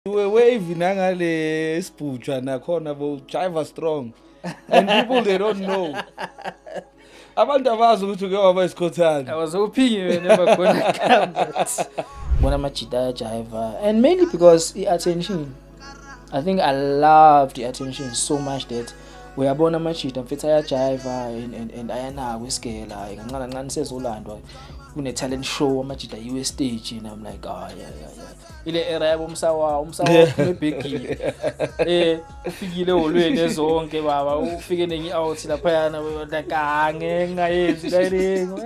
we wave nangale sibhutshwa nakhona bo driver strong and people they don't know abantu abazi ukuthi uke waba isikhothane awazophingi wena bakhona cameras bona amajita ayajayiva and mainly because i-attention i think i loved i-attention so much that uyabona amajita mfethu ayajayiva and, and, and ayanako isigela hayi kancane kancane sezolandwa kune-talent show amajita yiwe stage and i'm like oh, yeah, yeah, yeah. ile era yabo umsawa umsawa ebhegile eh ufikile holweni ezonke baba ufike nenye out lapha yana kange ngayenzi kayiringo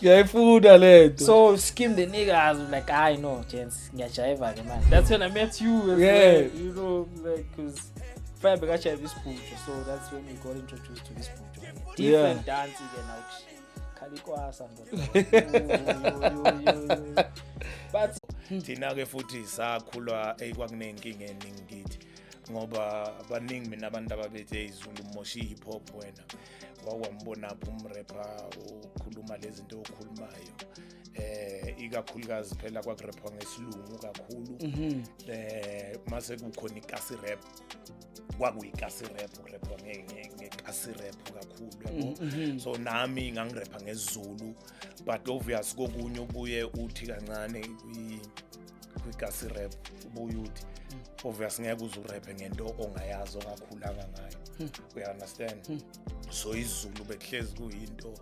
ngiyayifunda lento so skim the niggas like i know gents ngiyajayiva ke manje that's when i met you as yeah. well you know like cuz fire bekashaya isibhujo so that's when we got introduced to this bhujo different yeah. dance ke now khalikwasa but thina ke futhi sakhulwa ekwakunenkinga eningi kithi ngoba baningi mina abantu ababethi eyizulu mosha i-hip hop wena wakwambonaphi umrepa ukhuluma le zinto okhulumayo eh ikakhulukazi phela kwakurepwa ngesilungu kakhulu mhm. eh mase kukhona ikasi rap kwakuyikasirephu kurepha ngekasirephu kakhulu yabo mm, mm-hmm. so nami ngangirepha ngesizulu but obvious kokunye ubuye uthi kancane kwikasirephu ubuye uthi mm. obvious ngeke uze urephe ngento ongayazi ongakhulanga ngayo hmm. uya-understand hmm. so izulu bekuhlezi kuyinto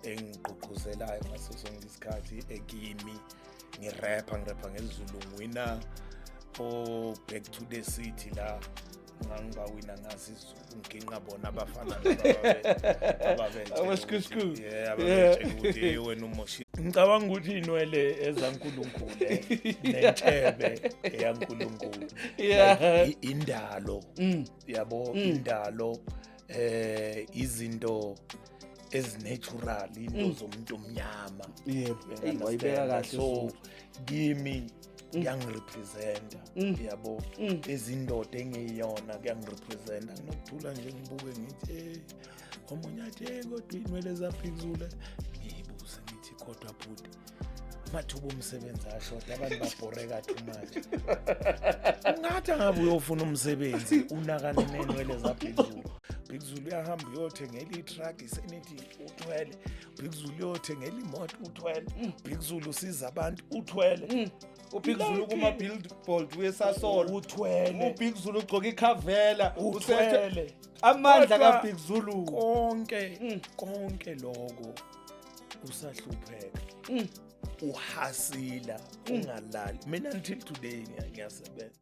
engigqugquzelayo ngaso sonke isikhathi ekimi ngirapha ngirapha ngesizulu ngiwina o-back to the city la ngangibawina ngazi izulu nginqa bona abafana ababenjewena umoshi ngicabanga ukuthi inwele ezankulunkulu nentshebe eyankulunkulu indalo mm. yabo mm. indalo eh izinto ezinatural into mm. zomuntu omnyama yebo wayibeka kahle so kimi mm. kuyangirepresenta mm. yabo izindoda engiyona kuyangirepresenta nginokuthula nje ngibuke ngithi hey omunye athi hey kodwa inwele zaphikuzule ngiyibuze ngithi kodwa bhuti amathuba omsebenzi ashoda abantu babhoreka too much ungathi angabe uyofuna umsebenzi unakane nenwele zabhekuzulu bhekuzulu uyahamba uyothengela itruck isenithi uthwele bhekuzulu uyothengela imoto uthwele bhekuzulu usiza abantu uthwele mm. ubig zulu kuma-billboard wesasolo uthwele ubig zulu ugcoka ikhavela uthwele amandla kabig zulu konke mm. konke loko usahlupheka uhasila ungalali mina until today ngiyasebenza